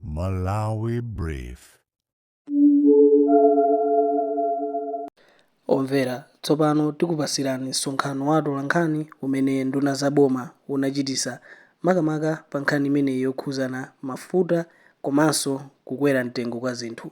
Malawi Brief. Omvera, tsopano tikupatsirani msonkhano wa atolankhani umene nduna za boma unachititsa makamaka pa nkhani imeneyi yokhudzana mafuta komanso kukwera mtengo kwa zinthu.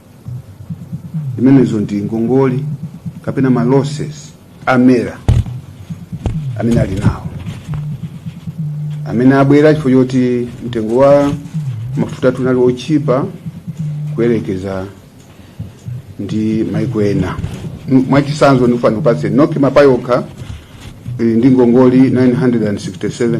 imenezo ndi ngongole kapena ma losses a MERA amene ali nawo amene abwera chifukwa choti mtengo wa mafuta tunali otchipa kuyerekeza ndi maiko ena M- mwachitsanzo ndikufuna kupatse NOCMA payokha ili ndi ngongole 967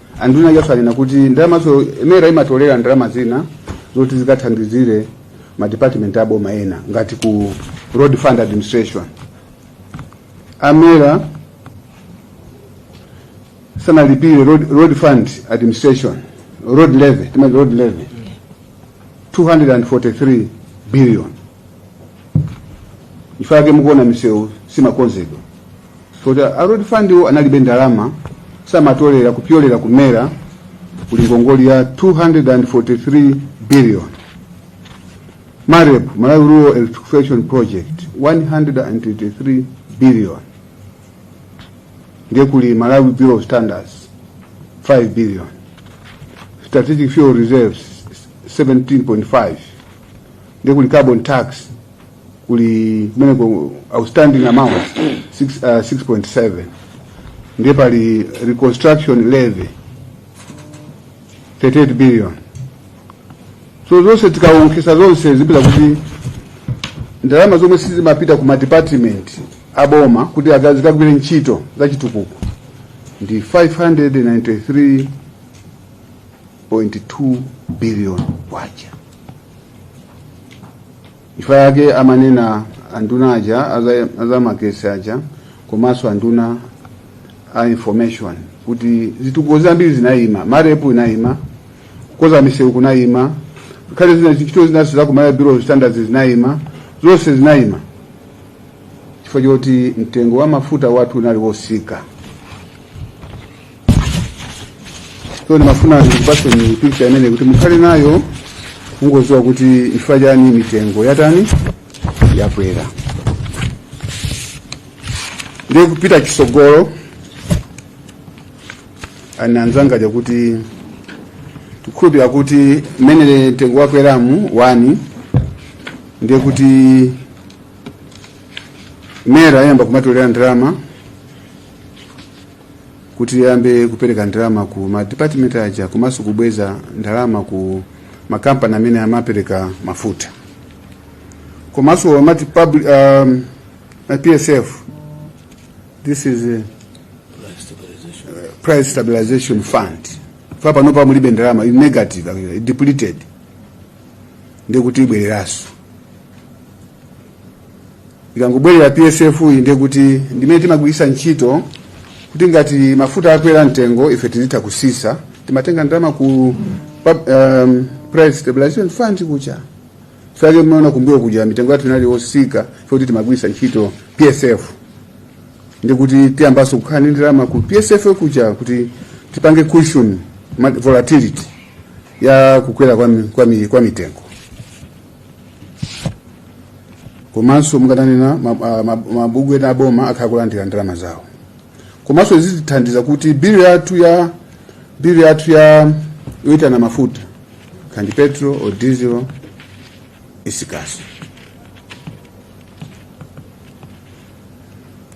anduna ajaso anena kuti ndalamazo MERA imatolera ndalama zina zoti zikathandizire madepartment a boma ena ngati ku road fund administration a MERA sanalipire road, road fund administration road levy timati road levy 243 billion n'chifukwa chake mukuona misewu simakonzedwa so a road fund wo analibe ndalama samatolera kupyolera ku MERA kuli ngongoli ya 243 billion MAREP malawi rural electrification project 123 billion ndiye kuli malawi bureau of standards 5 billion strategic fuel reserves 17.5 ndiye kuli carbon tax kuli kumeneko outstanding amount 6.7 uh, ndiye pali reconstruction levy 38 billion so zonse tikawonkhesa zonse tipeza kuti ndalama zomwe sizimapita ku madepartment a boma kuti zikagwire ntchito za chitukuko ndi 593.2 billion kwacha Chifukwa chake amanena anduna aja a zamagetsi aja komanso anduna a information kuti zitukuko zambiri zinayima MAREP inayima kukonza misewu kunayima ngakhale zina ntchito zinanso za ku Malawi bureau of standards zinayima zonse zinayima chifukwa choti mtengo wa mafuta wathu unali wotsika so ndimafuna ndikupaseni picha imeneyi kuti mukhale nayo mungoziwa kuti chifukwa chani mitengo yatani yakwera ndiye kupita chisogolo anena anzanga aja kuti tikhulupira kuti mmene mtengo wakweramu wani ndiye kuti MERA iyamba kumatolera ndalama kuti liyambe kupereka ndalama ku madipatimenti aja komanso kubweza ndalama ku makampani amene amapereka mafuta komanso amati public um, psf this is uh, price stabilization fund paja panopa mulibe ndalama ili negative actually, depleted ndiye kuti ibwereranso ikangobwerera psf iyi ndiye kuti ndimene timagwiritsa ntchito kuti ngati mafuta akwera mtengo ife tizitha kutsitsa timatenga ndalama ku pub- um, price stabilization fund kuja chake munaona kumbuyo kuja mitengo yathu inali yotsika poti timagwiritsa ntchito psf ndiye kuti tiyambanso kukhala ndi ndalama ku psf kuja kuti tipange cushion ma- volatility ya kukwera kwa, mi- kwa, mi- kwa mitengo komanso mungatanena mabungwe ena aboma akhala kulandira ndalama zawo komanso izi zithandiza kuti bilu yathu ya bilu yathu ya yoitana mafuta kaya ndi petrol or diesel itsikanso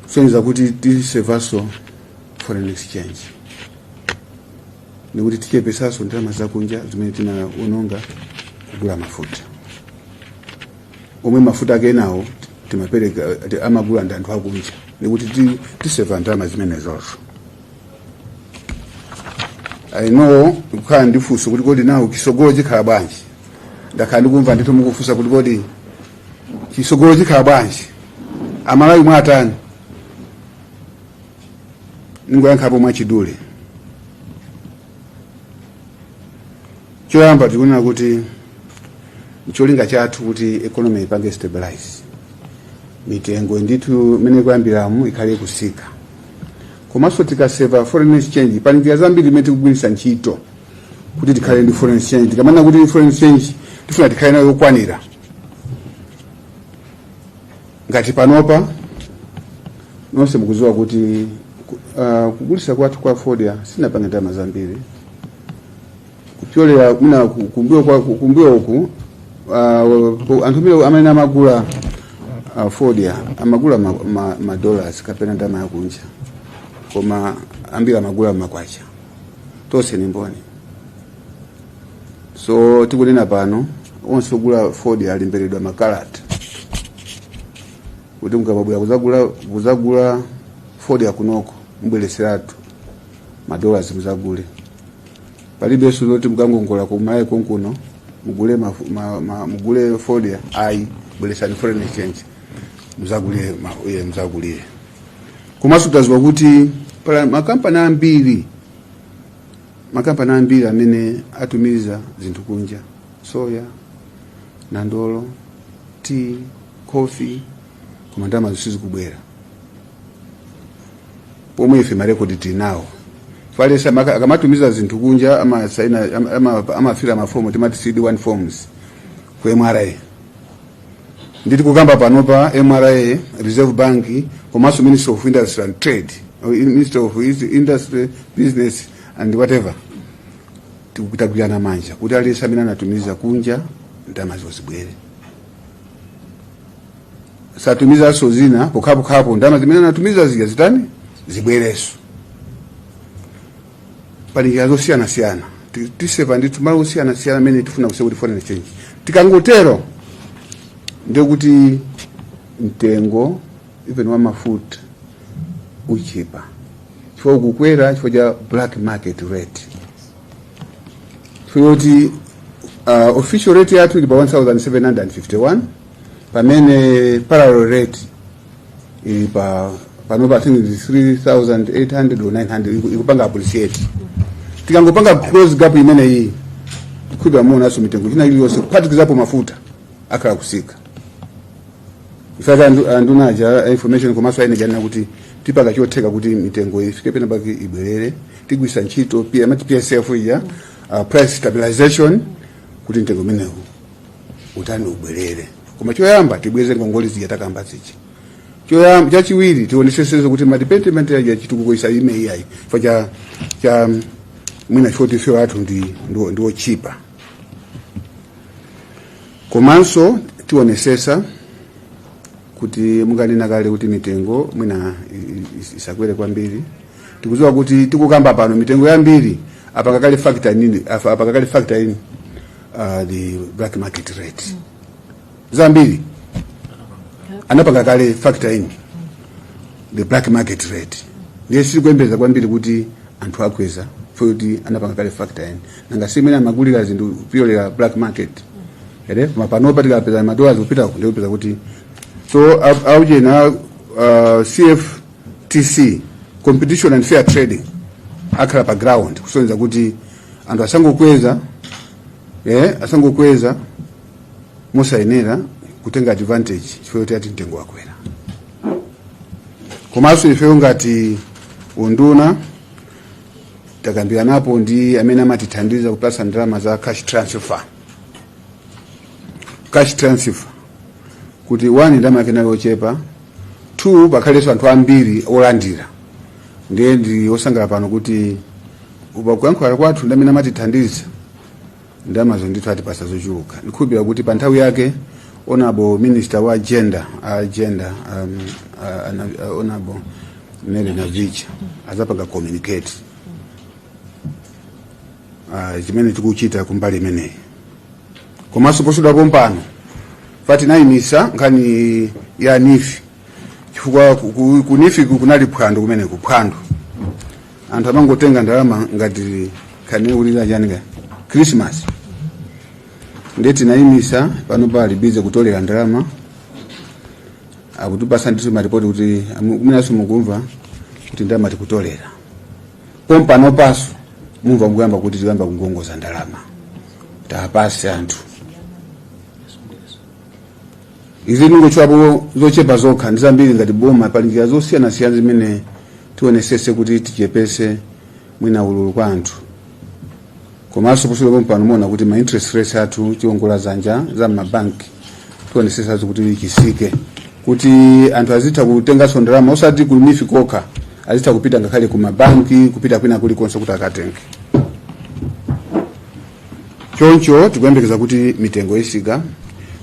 kusonyeza kuti tisevanso foreign exchange ndiye kuti tichepetsanso ndalama zakunja zimene tinaononga kugula mafuta omwe mafuta ake enawo timapereka amagula ndi anthu akunja ndiye kuti ti- tiseva ndalama zimenezonso i know kukhala ndi funso kuti kodi nanga tsogolo chikhala bwanji ndakhala ndikumva ndithu mukufunsa kuti kodi tsogolo chikhala bwanji amalawi mwatani ndingoyankhapo mwachidule choyamba tikunena kuti cholinga chathu nkuti economy ipange stabilize mitengo ndithu mmene ikuyambiramu ikhale ikutsika komanso tikaseva foreign exchange pali njira zambiri zimene tikugwiritsa ntchito kuti tikhale ndi foreign exchange tikamanena kuti foreign exchange tifuna tikhale nayo yokwanira ngati panopa nonse mukudziwa kuti uh, kugulitsa kwathu kwa fodya sitinapange ndalama zambiri kupyolera muna kumbuyo kwa kumbuyo uku uh, anthu mile amene amagula uh, fodya amagula ma, ma, ma dollars kapena ndalama yakunja koma ambiri amagula makwacha tonse ni mboni so tikunena pano onse ogula fodya alemberedwa makalata kuti mukamabwera kuzagula kuzagula fodya kunoko mubweretseretu madollars muzagule palibenso zoti mukangongola kuMalawi konkuno mugule mafu- ma- ma- mugule fodya ayi bweresani foreign exchange muzagule ma- iye muzagule komanso taziwa kuti pali makampani ambiri makampani ambiri amene atumiza zinthu kunja soya nandolo tea coffee koma ndalamazo sizikubwera pomwe ife marekodi tinawo chifukwa maka- akamatumiza zinthu kunja amasaina ama- ama- amafira mafomu timati cd1 forms ku mra nde tikukamba pano pa mra reserve bank komanso ministry of industry and trade or in- ministry of Is- industry business and whatever tikugwirana manja kuti aliyense amene anatumiza kunja ndalamazo zibwere satumizanso zina pokhapokha ndalama zimene anatumiza zija zitani zibwerenso pali njira zosiyanasiyana Ti- tisepa ndithu malo osiyanasiyana amene tifuna kusepa kuti foreign exchange tikangotero ndiye kuti mtengo even wa mafuta uchipa chifukwa ukukwera chifukwa cha black market rate chifukwa kuti uh, official rate yathu ili pa 1751 pamene parallel rate ili pa pano pa I think 3800 or 900 iku- ikupanga appreciate tikangopanga close gap imeneyi ndithudi muonaso mitengo ina iliyonse kuphatikizapo mafuta akhala akusika in fact anduna a za information komanso ayenera nena kuti tipanga chotheka kuti mitengo ifike pena pake ibwerere tigwisa ntchito ija amati psf ija uh, price stabilization kuti mtengo umenewu utani ubwerere koma choyamba tibweze ngongole zija takambazi chi- choyamba chachiwiri tionesesenso kuti madevelopment aja achitukuko asayime iyayi chifukwa cha mwina choti fuel wathu ndi ndiwo- ndiwochipa komanso tionesesa kuti monga nanena kale kuti mitengo mwina i- i- is- isakwere kwambiri tikuziwa kuti tikukamba pano mitengo yambiri apanga kale factor in apa- apanga kale factor in uh, the black market rate mm. zambiri anapanga kale factor in the black market rate ndiye sitikuyembeza kwambiri kuti anthu akweza futi anapanga kale factor in nanga si mmene amagulira zinthu kupyolera black market rate koma panopa tikapeza madola zikupita nde upeza kuti so aujena uh, cf CFTC competition and fair trading akhala pa ground kuonetsetsa kuti anthu asangokweza eh, asangokweza mosayenera kutenga advantage chifukwa choti ati mtengo wakwera komanso ifeyo ngati unduna takambiranapo ndi amene amatithandiza kupatsa ndalama za cash transfer cash transfer kuti one ndalama yake inali yochepa 2 pakhalenso anthu ambiri olandira ndiye ndi osangala pano kuti pa kuyankhula kwathu ndi amene amatithandiza ndalamazo ndithu atipatsa zochuluka ndikukhulupirira kuti pa nthawi yake honourable minister wa gender a gender um, a- ana- a- honourable Mary Navicha adzapanga communicate ah, chimene tikuchita kumbali imeneyi komanso posachedwa pompano paja tinayimitsa nkhani ya NEEF chifukwa ku- ku- ku NEEF ku- kunali phwando kumene kuphwando anthu amangotenga ndalama ngati kaya ndi ulere wa Christmas ndiye tinayimitsa pano ali busy kutolera ndalama akutipatsa ndithu maripoti kuti amu- kumenanso mukumva kuti ndalama tikutolera pompano panso mumva mukuyamba kuti tikuyamba kukongoza ndalama tiwapatse anthu izi ndangotchulapo zochepa zokha ndi zambiri ngati boma pali njira zosiyanasiyana zimene tionetsetse kuti tichepetse mwina ululu kwa anthu komanso posachedwa pompano muona kuti ma interest rates athu chiongola dzanja za mabanki tionetsetsanso kuti chitsike kuti anthu azitha kutenganso ndalama osati ku NEEF kokha azitha kupita ngakhale ku mabanki kupita kwina kulikonse kuti akatenge choncho tikuyembekeza kuti mitengo itsika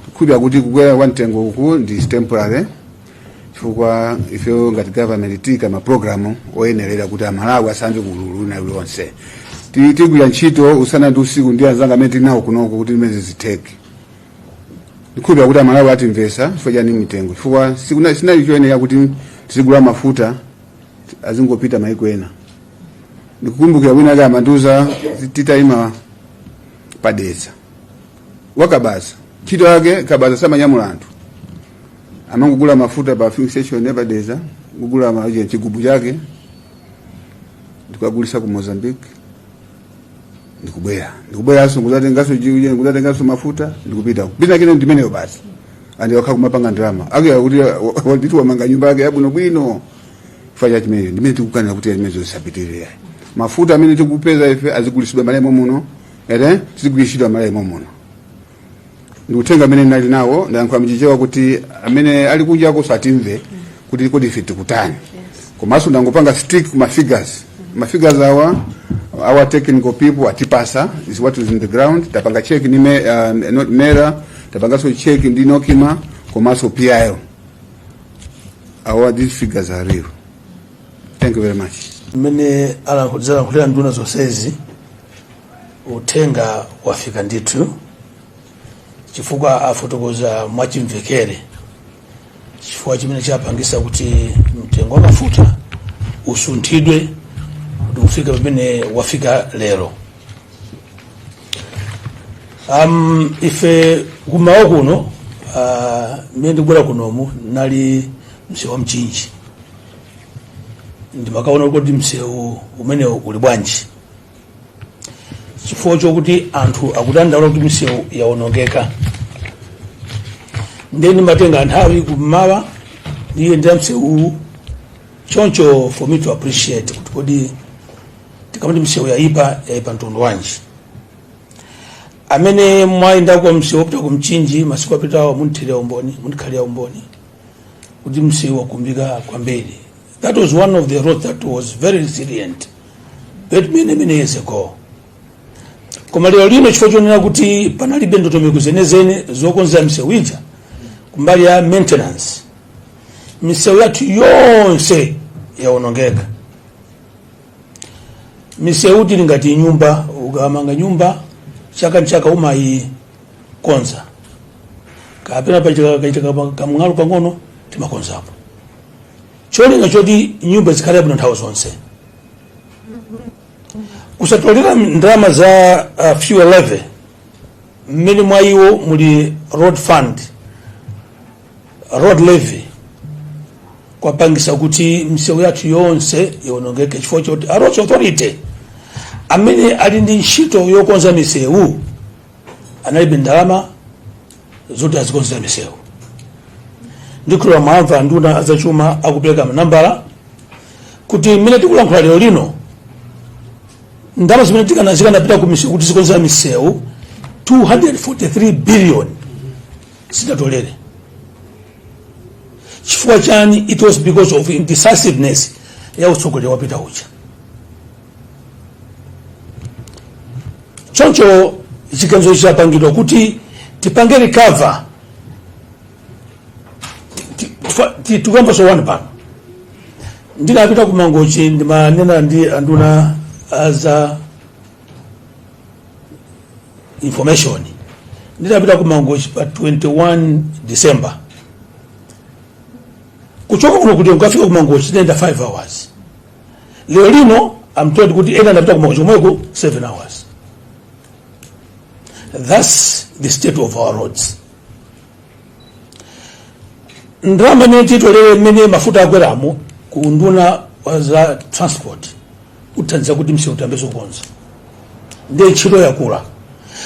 tikukhulupirira kuti kukwera kwa mtengo uku ndi temporary chifukwa ifeyo ngati government tiika ma program oyenerera kuti amalawi asamve ululu wina uliwonse Ti- tigwira ntchito usana ndi usiku ndi anzanga amene tili nawo kunoko kuti zimene zitheke ndikukhulupirira kuti amalawi atimvetsa chifukwa chani mitengo chifukwa sikuna- sinali choyenera kuti tizigula mafuta azingopita maiko ena ndikukumbukira wina ake amandiuza titayima pa Dedza wa kabaza ntchito yake kabaza samanyamula anthu amangogula mafuta pa filling station ya pa Dedza kugula ma jigubu ake n'kukagulitsa ku Mozambique ndikubwera ndikubweranso kudzatenganso jiuje kudzatenganso mafuta ndikupita kupita kine ndimeneyo basi and wakhala kumapanga ndalama akuya kuti wandiuza wamanga nyumba yake yabwinobwino chifukwa cha chimenecho ndimene tikukanira kuti zimenezo zisapitirire mafuta amene tikupeza ife azigulitsidwa m'Malawi muno ere tizigulitsidwa ma line momuno ndikutenga amene ndinali nawo ndayankhula mchichewa kuti amene ali kunja koso atimve kuti kodi ife tikutani komanso ndangopanga stick kuma figures ma figures awa our technical people atipasa is what is in the ground tapanga check ni me, uh, not mera tapangaso check ndi NOCMA komanso PIL awa these figures are real thank you very much mmene alankhulira nduna zonsezi Uthenga wafika ndithu chifukwa afotokoza mwachimvekere chifukwa chimene chapangisa kuti mtengo wa mafuta usunthidwe kuti ufike pamene wafika lero. Um, ife kumawa kuno uh, mene ndikubwera kunomu nali msewu wa mchinji ndimakaona kuti msewu umenewu uli bwanji chifukwa chokuti anthu akudandaula kuti misewu yawonongeka ndiye ndimatenga nthawi kummawa ndiyendere msewuwu choncho for me to appreciate kuti kodi tikamati msewu yayipa yayipa mtundu wanji amene mwayendako msewu wopita ku mchinji masiku apitawo mundithilira umboni mundikhalira umboni kuti msewu wakumbika kwambiri That was one of the roads that was very resilient but many many years ago. Koma lero lino chifukwa chonena kuti panalibe ndondomeko zenizeni zokonza misewu ija kumbali ya maintenance, misewu yathu yonse yaonongeka. Misewutu ili ngati nyumba, ukamanga nyumba chaka ndi chaka umayikonza kapena pachitika kamng'alu pang'ono timakonzapo cholinga choti nyumba zikhala bwino nthawi zonse kusatolera ndalama za uh, fuel levy mmene mwa iwo muli road fund road levy kwapangisa kuti misewu yathu yonse iwonongeke chifukwa choti a roads authority amene ali ndi ntchito yokonza misewu analibe ndalama zoti azikonzera misewu ndikhulupirira mwamva anduna azachuma akupereka manambala kuti mmene tikulankhula lero lino ndalama zimene tikana- zikanapita ku misewu kuti zikonzere misewu 243 billion sizidatoleredwe chifukwa chani it was because of indecisiveness ya utsogoleri wapita uja choncho chiganizo chapangidwa kuti tipange recover tikukamba zoona pano ndinapita ku mangochi ndimanena ndi anduna aza information ndinapita ku mangochi pa 21 december kuchoka kuno kuti ukafika ku mangochi ndinayenda 5 hours lero lino i'm told kuti ena anapita ku mangochi komweko 7 hours thats the state of our roads ndalama imene titolere mmene mafuta akweramu ku unduna wa za transport ithandiza kuti msewu tiyambenso kukonza ndiye ntchito yakula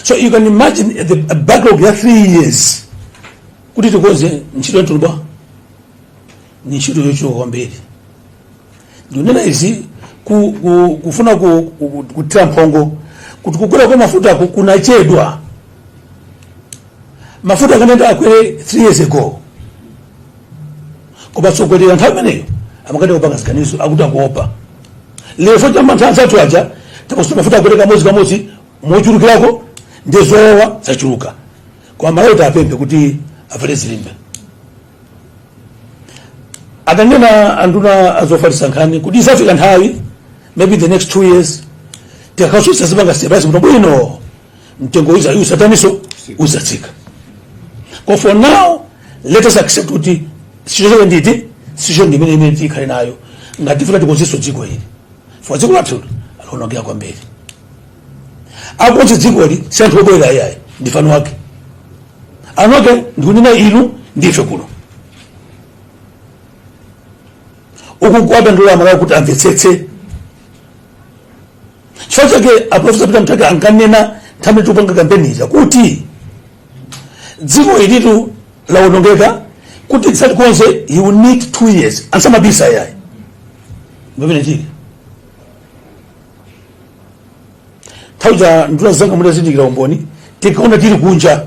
so you can imagine the backlog ya three years kuti tikonze ntchito yatuluba ni ntchito yochuluka kwambiri ndinena izi ku, ku, kufuna ku, ku, ku, kuthira mphongo kuti kukwera kwa mafuta ku- kunachedwa mafuta akanayenera akwere 3 years ago koma atsogoleri nthawi imeneyo amakanika kupanga ziganizo akuti akuopa lero fo chamba nthawi zathu aja takusuta mafuta akwere kamodzi kamodzi mochulukirako ndi zowawa zachuluka koma amalawi tiwapemphe kuti avale zilimbe adanena anduna azofalitsa nkhani kuti izafika nthawi maybe the next two years tikakhasusitsa zipanga stabilize kuno bwino mtengo uza usataniso uzatsika koma for now let us accept kuti situation yake ndi situation imene tikhale nayo ngati tifuna tikonzenso dziko ili for dziko lathu laonongeka kwambiri akonze dziko ili si anthu obwera ayayi ndife anthu ake anthu ake ndikunena inu ndife kuno uku kuwadandaulira amalawi kuti amvetsetse chifukwa chake aprofesa peter mutharika ankanena nthawi tikupanga kampeni ija kuti dziko ilitu lawonongeka kuti tizalikonze you need two years and samabisa ayi pamene tili nthawi za nduna zanga mutazindikira umboni tinkaona tili kunja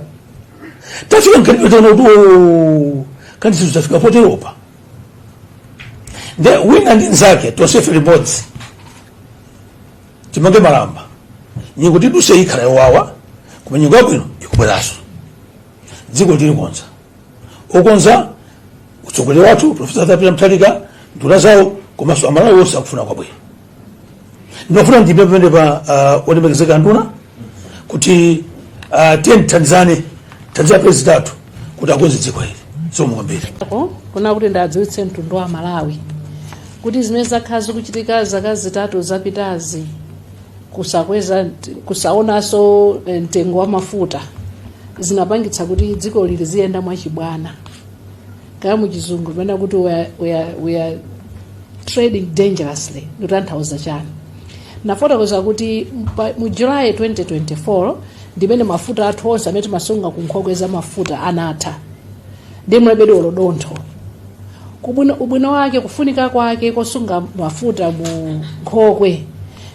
tafika mkati taona kuti "Oh, kani sizo tafika poteropa nde wina ndi nzake tonsefe limodzi timange malamba nyengo tiduse ikhala yowawa koma nyengo yabwino ikubweranso dzikoli tilikonza okonza mtsogoleri wathu profesa arthur peter mutharika nduna zawo komanso amalawi onse akufuna kwabwino ndimafuna ndiime pamenepa ah, olemekezeka nduna kuti ah, tiye tithandizane thandiza president wathu kuti akonze dziko ili zomwe kwambiri Ko, kufuna kuti ndiwadziwitse mtundu wa malawi kuti zimene zakhala zikuchitika zaka zitatu zapitazi kusakweza kusaonanso eh, mtengo wa mafuta zinapangitsa kuti dziko ili liziyenda mwachibwana kaya muchizungu timanena kuti we are, we are, we are trading dangerously ndikutanthauza chani nafotokoza kuti mpa- mu july 2024 ndimene mafuta athu onse amene timasunga ku nkhokwe za mafuta anatha ndi mulibe ndi olo dontho kubwino ubwino wake kufunika kwake kosunga mafuta mu nkhokwe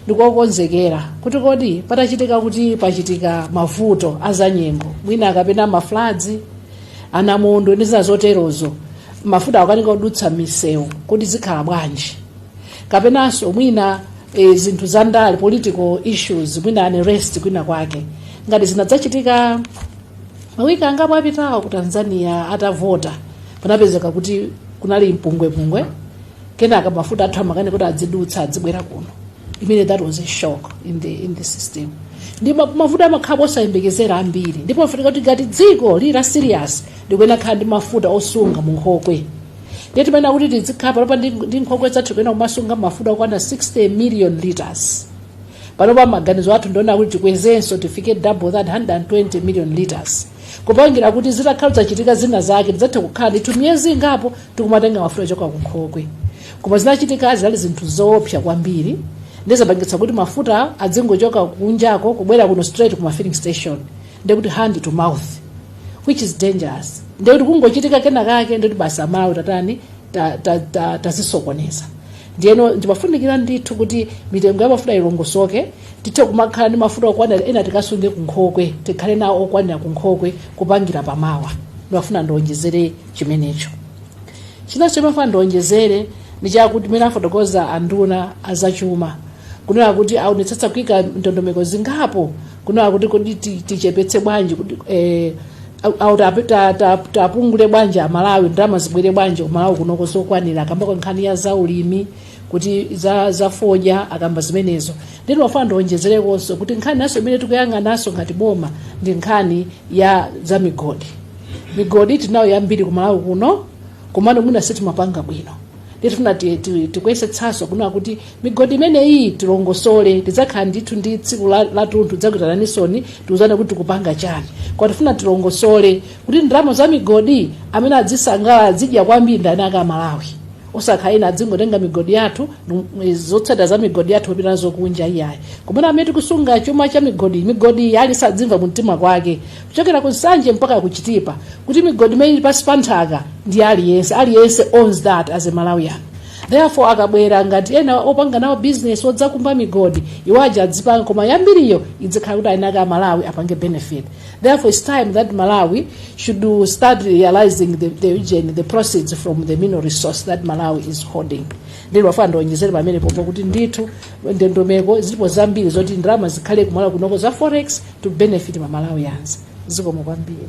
ndikokonzekera kuti kodi patachitika kuti pachitika mavuto azanyengo mwina kapena mafladzi anamondo ndi zina zoterozo mafuta akukanika kudutsa m'misewu kodi zikhala bwanji kapenanso mwina e, zinthu za ndale political issues mwina unrest kwina kwake ngati zinadzachitika mawiki angapo apitawo ku tanzania atavota panapezeka kuti kunali mpungwepungwe kenaka mafuta athu amakanika kuti adzidutsa adzibwera kuno imene that was a shock in the, in the system ndi ma- mavuto amakhala osayembekezera ambiri ndipo pafunika kuti ngati dziko lili la serious likuyenera kukhala ndi mafuta osunga mu nkhokwe ndiye timayenera kuti tizikhala panopa ndi ndi nkhokwe zathu tikuyenera kumasunga mafuta okwana 60 million liters panopa maganizo athu ndi onena kuti tikwezenso tifike double that 120 million liters kupangira kuti zitakhala zadzachitika zina zake tidzathe kukhala ndithu miyezi ingapo tikumatenga mafuta ochoka ku nkhokwe koma zinachitikazi zinali zinthu zoopsa kwambiri ndi zopangitsa kuti mafuta adzingochoka kunjako kubwera kuno straight ku ma filling station ndekuti hand to mouth which is dangerous ndekuti kungochitika kena kake ndekuti basi amalawi tatani tazisokoneza ta, ta, ta ndiyeno ndi zofunikira ndithu kuti mitengo ya mafuta ilongosoke tithe kumakhala ndi mafuta okwanira ena tikasunge kunkhokwe tikhale nawo okwanira kunkhokwe kupangira pamawa ndimafuna ndionjezere chimenecho chinanso chimene ndimafuna ndionjezere ndi chakuti mene afotokoza anduna azachuma kunena kuti aonetsetsa kuika ndondomeko zingapo kunena kuti kodi ti- tichepetse bwanji kuti eh, au- au tape- ta- ta- tiwapepule bwanji amalawi ndalama zibwere bwanji kumalawi kuno zokwanira akambako nkhani ya zaulimi kuti za, za fodya akamba zimenezo ndiye ndimafuna ndionjezerekonso kuti nkhani inanso imene tikuyang'ananso ngati boma ndi nkhani ya za migodi migodi tinayo yambiri kumalawi kuno komano mwina sitimapanga bwino tifuna ti- ti- tikuyesetsanso kunena kuti migodi imeneyi tilongosole tidzakhala ndithu ndi tsiku la- latunthu ndidzakuitananinsoni tiuzane kuti tikupanga chani kwa tifuna tilongosole kuti ndalama za migodi amene adzisangalala adzidya kwambiri ndani a kumalawi osakhala ena adzingotenga migodi yathu nu- mu- zotsatira za migodi yathu kupita nazo kunja iyayi koma amene tikusunga chuma cha migodi migodi aliyense adzimva mumtima kwake kuchokera ku nsanje mpaka ku chitipa kuti migodi imene ili pansi pa nthaka ndi aliyense aliyense owns that as a malawian therefore akabwera ngati ena opanga nawo business odzakumba migodi iwo aja adzipanga koma yambiriyo idzikhala kuti aikhala amalawi apange benefit therefore its time that malawi should do- start realizing the, the, region, the proceeds from the mineral resource that malawi is holding ndinafuna ndionjezere pamenepo pakuti ndithu ndondomeko zilipo zambiri zoti ndalama zikhale kumalawi kunoko za forex to benefit mamalawians zikomo kwambiri